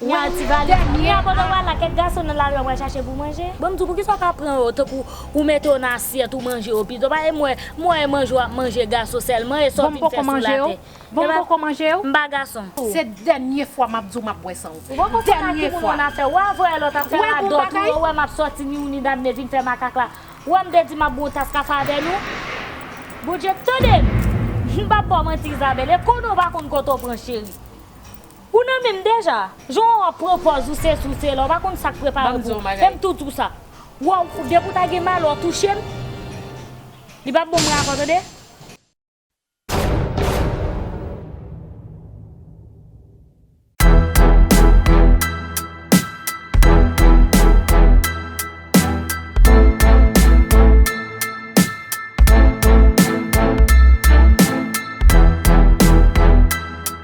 Nya ti valiz la. Nya kote ou pral la kèk gason nan lari ap pral chache pou manje. Banm di w poukisa w pa pran yo tankou ou mete yo nan asyèt ou manje yo pito pa e m wè m wè e manje w ap manje gason sèlman e sa w vin fè sou latè e pa m pa gason. Se dènye fwa map di w map bwè san w. Ou poko fè kaki moun an afè wa voye lòt afè radòt ou yo wè map sòti ni ou ni Damne vin fè makak la ou wè m te di map bwè yon tas kafe avè nou Bondye tande m m pap ba w manti Isabelle e konnen w pa konn kote w pran cheri. Ou nan menm deja? Jan wap pran pòz ou sesi ou sela ou pa konn sak prepare pou ou fèm tou di w sa waw depi w ta gen mal wap touche m li pap bon m raka w tande.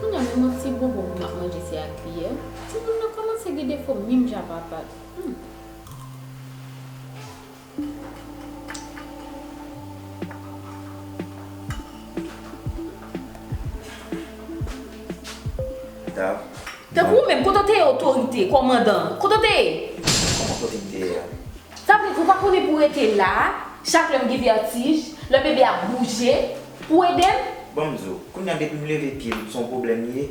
Kounya menm yon ti bonbon pou map manje se ak kiyè, timoun nan kòmanse gen defo minm jan papa l humm. Tankou ou menm, kote w te ye otorite, kòmandan, kote w te ye? Kòman kote m te ye a? Sa vle di ou pa konnen pou w rete la a, chak lè m gen vètij, lè bebe a ap bouje. Pou edem? Bon m di w, kounya depi m leve pye m son pwoblèm m ye.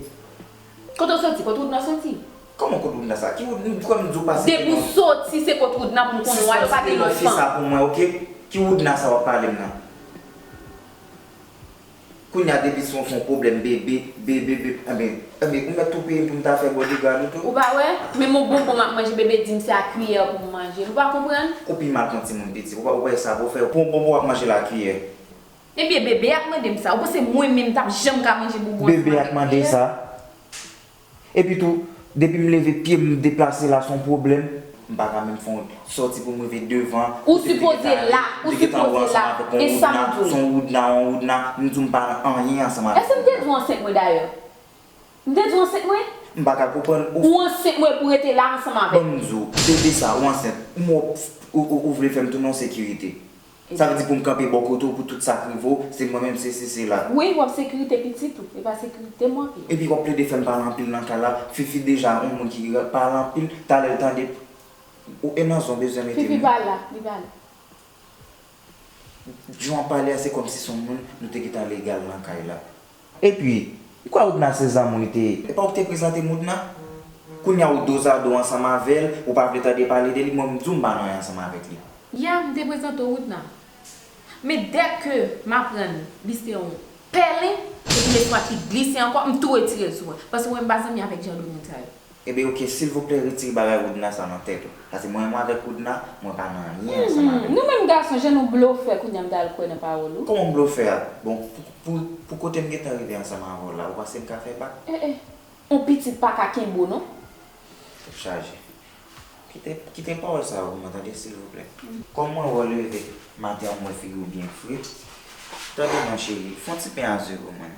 Kote w soti? Kot Woodna soti? Kòman kot Woodna sa? Ki Wood, m kwè m di w pase Depi w soti se kot Woodna pou m konnen w ale w pa gen lòt fanm. Sispann site non fi sa pou mwen ok. Ki Woodna sa w ap pale m nan? Kounya depi se son pwoblèm bebe, bebe, bebe, anben, anben ou mèt tou peye m pou m ta fè bodyguard ou tou. Ou pa wè? Menm yon bonbon m ap manje bebe di m se a kiyè pou m manje l. Ou pa konprann? Ou pi mal k yon timoun piti. Ou pa wè sa pou fè w. Pou yon bonbon w ap manje l a kiyè. Ebyen bebe ap mande m sa. Ou panse mwen menm tap janm ka manje boubou ansanm avèk Bebe ap mande sa. Epi tou, depi m leve pye m deplase la son pwoblèm. M pa ka menm fè yon sòti pou m rive devan. Ou sipoze la, ou sipoze la. E sa m di w. Son woudna yon woudna. M di w m pa nan anyen ansanm avèk woudna. Èske m te di w ansent mwen dayè? M te di w ansent mwen? M pa ka konprann ou. Ou ansent mwen pou w rete la ansanm avèk mwen. Banm di w, bebe sa ou ansent. M wè w vle fè m tounen yon sekirite. Sa vle di poum kanpe bò kote w pou tout sak rive w, se mwen menm sesi sela. Wi wap sekirite pitit ou, epa sekirite m wap ye. Epi wap plede fèm pale anpil nan kay la, fifi deja yon moun ki pale anpil, talè l tande ou e nan zon bezwen mete m. Fifi pa la, li pa la. Jan wap pale a se kòmsi son moun nou te gentan legal nan kay la. Epi, m kwè Oudna se zanmi w li te ye. Epa ou ki te prezante m Oudna? Kounya ou dozado ansanm avè l, ou pa vle tande pale de li, mwen m di w m pa nan anyen ansanm avèk li. Ya, m te prezante w Oudna. Men dè ke m aprann li se yon pèlen, se pou lespwa ki glise ankò, m tou retire l sou mwen. Paske mwen m pa zanmi avèk jan de moun sa yo. Ebyen ok silvouplè retire bagay roudna sa nan tèt ou pase mwen mwen avèk roudna mwen pa nan anyen ansanm avèl. Nou menm gason jan nou blofè kounya m ta al kwè nan pawòl ou. Kòman m blofè a bon pou pou kote m gentan rive ansanm avè w la ou panse m ka fè bak. Eh eh on pitit paka kenbe w non. Tèt chaje. Kite kite pawòl sa yo pou mwen tande silvouplè. Kòm mwen wè w leve maten an m wè figi w byen fre tande non cheri fon ti pen a ze pou mwen.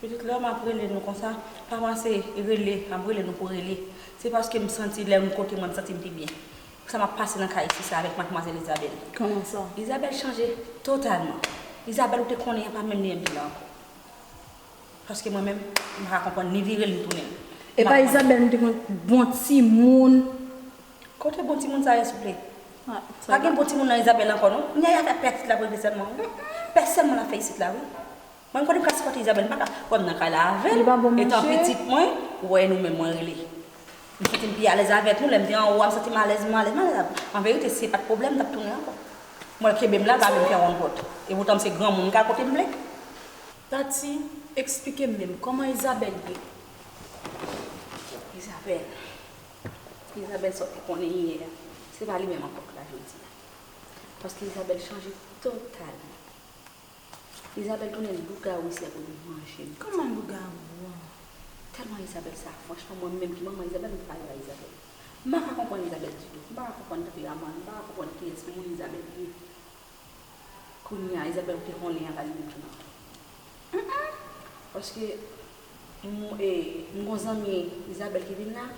Pitit lèm ap rele nou konsa pa pase rele ap rele nou pou rele se paske m santi lèm kote mwen m santi m pi byen sa map pase nan kay isi sa avèk matmwazèl Isabelle Koman sa? Isabelle chanje totalman Isabelle ou te konnen an pa menm li enpi la ankò paske mwen menm m paka konprann ni vire l ni tounen l Epa Isabelle m te konn bon timoun. Kote bon timoun sa ye souple? Pa gen bon timoun nan Isabelle ankò non. Yaya fè pè pitit la pou l vin sèlman wi. Pè sèlman lap fè isit la wi. Mwen konn plas kote Isabelle mpaka wèm nan kay la avèl etan pitit mwen wè nou men mwen rele m santim pi alèz avèk nou lèm te anwo a m santim alèz mwen alèz mwen alèz avèl an verite si se pat problèm m tap tounen ankò m wèl kenbem la l pa vlem fè wonn pòt epoutan m se granmoun m ka al kotem vle. Tati, eksplikem menm, kòman Isabelle ye? Isabelle, Isabelle sa w te konnen yè a se pa li menm ankò k la jodi a paske Isabelle chanje totalman. Isabelle tounen lougawou isi ap vin manje m. Kòman lougawou an tèlman Isabelle sa franchman mwen menm ki manman Isabelle m pale a Isabelle. M pa ka konprann Isabelle ditou. M pa ka konprann tanperaman l. M pa ka konprann kiyès moun Isabelle ye. Kounye a Isabelle ouvri yon len a pale menm tou nan. Hum hum paske m e m gon zanmi Isabelle ki vin la.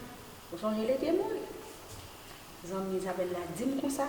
Ou sonje l e te moun. Zanmi Isabelle la di m konsa.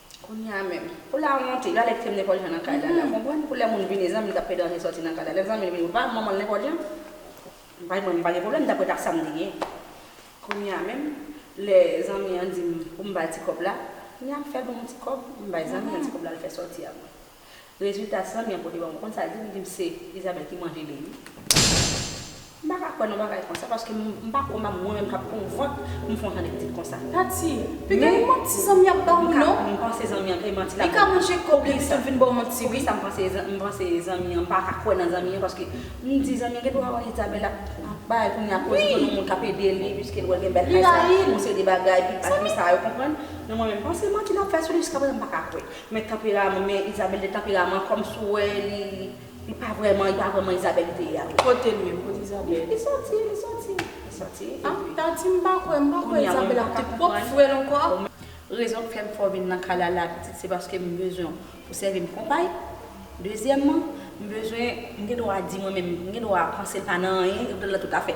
Kounye a menm. Pou lawonte, yo ale krèm nenpòt jan nan kay Lala. Konprann? Pou lè moun vini, zanmi li t ap fè danje sòti nan kay la. Lè zanmi li vini, ou pa manman l nenpòt jan? M pa gen pwoblèm, m pa gen pwoblèm, dapre ta sa m te gen. Kounye a menm, lè zanmi an di m pou m ba l ti kòb la, kounye a m fè bon m ti kòb, m bay zanmi an ti kòb la l fè sòti a mwen. Rezilta sanm yan pote banm ou konn sa ldi m li dim se Isabelle ki manje li wi m paka kwè nan bagay konsa paske m pa kwè mwen menm kap pranm vant pou m fon jan de pitit konsa Tati pi gen yon manti zanmi ap ba ou non m panse zanmi an kay manti lap banm pou kisa pou kisa m panse m panse zanmi an m paka kwè nan zanmi an paske m di zanmi an gen pou wè Isabelle ap bay kounye a koz li konn yon moun kap ede li piske l wè l gen bèl kay sa yon seri de bagay pi bat konsa yo konprann men mwen menm m panse manti lap fè sou li jiska prezan m paka kwè. Men tanperaman men Isabelle de tanperaman kòm si w wè li li pa vrèman li pa vrèman Isabelle li te ye avè. Kote l menm? Kote Isabelle? Li sòti li sòti li sòti epi. Tati m pa kwè m pa kwè Isabelle ap di pwòp frè l ankò. Rezon k fè m fè w vin nan kay la la pitit se paske m bezwen w pou sèvi m konpay. Dezyèmman m bezwen m gen dwa di mwen menm m gen dwa panse l pa nan anyen yo mete l nan tout afè.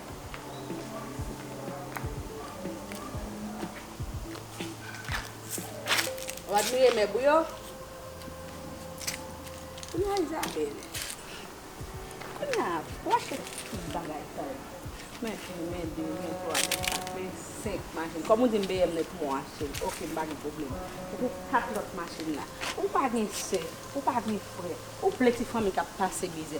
Ou admire mèb ou yo? Kounya Isabelle. Kounya ou achte tout bagay sa yo. Men 1, men 2, men 3, men 4, men 5 machin. Kòm ou di m BM nèt mwen achte l. Ok m pa gen pwoblèm. Epi 4 lòt machin la. Ou pa gen sè, ou pa gen frè. Ou vle ti fanmi k ap pase mizè.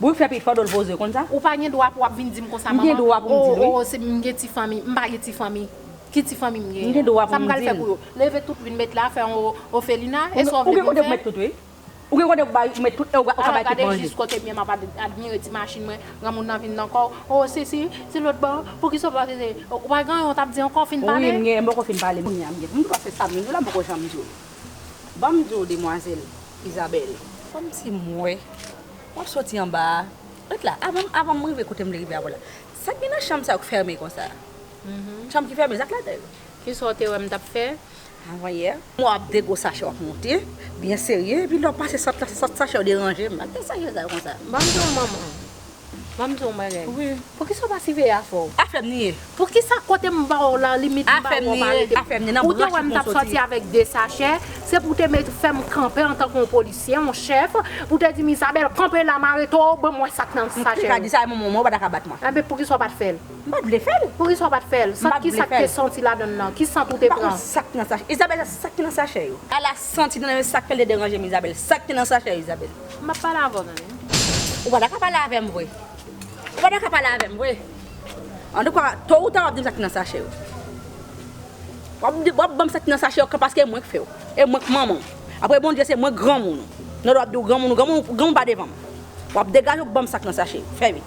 Boul fè pit fadol poze konn sa. Ou pa gen dwa pou wap vin dim konsa manman oh oh se m gen ti fanmi m pa gen ti fanmi ki ti fanmi m gen an sa m pral fè pou yo leve tout vin met la fè yon ofelina e sa w vle pou m fè ou gen kote pou bay ou met tout e ou ka bay tout manje gade jis kote m ye map admire ti machin mwen granmoun nan vin nan kò w oh si si si lòt bò pou kisa w pa rele ou pa gen anyen w tap di ankò fin pale wi m gen anyen m poko fin pale kounya m gen m dwa fè sa m vle m di w la m poko janm di w banm di w demwazèl Isabelle. Kòmsi m wè w ap soti anba a. Ret la, avan m rive kote m vle rive avè w la. Sa k gen nan chanm sa yo k fèmen konsa? Chanm ki fèmen, sa k ladan l? Kisa w te wè m t ap fè avanyè? M wè w ap degwo sachè w ap monte byen serye, epi lè w pase sant la se sant sachè yo deranje m. Sa k gen nan sachè sa yo konsa? Ban m di w manman. Banm di w yon bagay. Wi. Poukisa w pa siveye afè w? Afè m li ye. Poukisa kote m ba w la limit m ba w ou pa rete. Afè m li ye. Afè m li ye. Nan branch ou pou w soti. Ou te wè m tap soti avèk 2 sachè, se pou w te met fè m kanpe antanke yon polisye, yon chèf, pou w te di m Isabelle kanpe la m arete w, ban mwen sa k nan sachè yo. M te ka di sa yon moman men w pa ta ka bat mwen. Enben poukisa w pat fè l? M pat vle fè l. Poukisa w pat fè l? M pat vle fè l. Sant kisa k te santi ladann nan? Ki sant ou te pran? M pa konn sa k nan sachè. Isabelle sa k te nan sachè yo? Ala sant ki te nan yo sa k fè l te deranje m Isabelle. Sa k te nan sachè yo Isabelle? M ap pale avè w zanmi m. Ou pa ta ka pale avè m vre. Ou pa ta ka pale avè m vre. Antouka, to ou ta w ap di m sa ki nan sache yo. W ap di, w ap ban m sa ki nan sache yo kan paske e mwen k fè w. E mwen k manman w. Apre Bondye, se mwen granmoun ou. Nòl w ap di w granmoun ou. Granmoun pa devan m. W ap degaje w ban m sa k nan sache yo. Fè vit.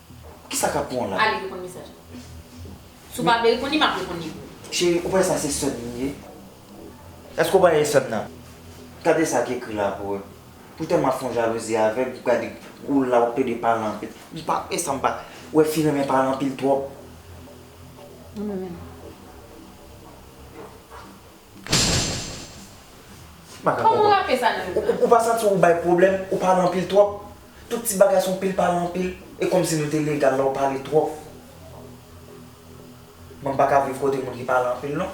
Kisa kap pran w la? Ale reponn mesaj la. Si w pa vle reponn li, map reponn li pou ou. Cheri, ou pa wè sa se sèm li ye? Eske ou pa wè e sèm nan? Gade sa ki ekri la pou ou. Pou tèlman fon jalouzi avèg, ou gade ou la wap plede pale anpil. M pa wè sa, m pa wè fi renmen pale anpil twòp. Mwen menm. Kòman wap fè sa nan yon prank. Ou pa santi ou bay pwoblèm, ou pale anpil twòp. Tout ti bagay son pil pale anpil. E kòmsi nou te legal la ou pale twòp. Mwen paka viv kote moun ki pale anpil non.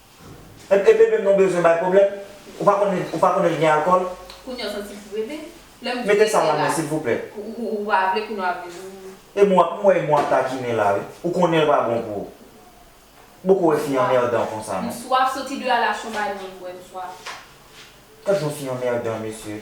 Ebyen bebe m non bezwen bay pwoblèm Ou pa konnen ou pa konnen gen alkòl? Kounya w santi pou bebe? Lè m di Mete sa la men silvouplè. Ou pa vle kounya w ap di m. Emo ap m wè emo ap takinen la wi ou konnen l pa bon pou ou m poko wè fi anmèdan konsa non. M swaf soti de a la chon bay mwen bwè m swaf. Gad yon fi anmèdan mesye.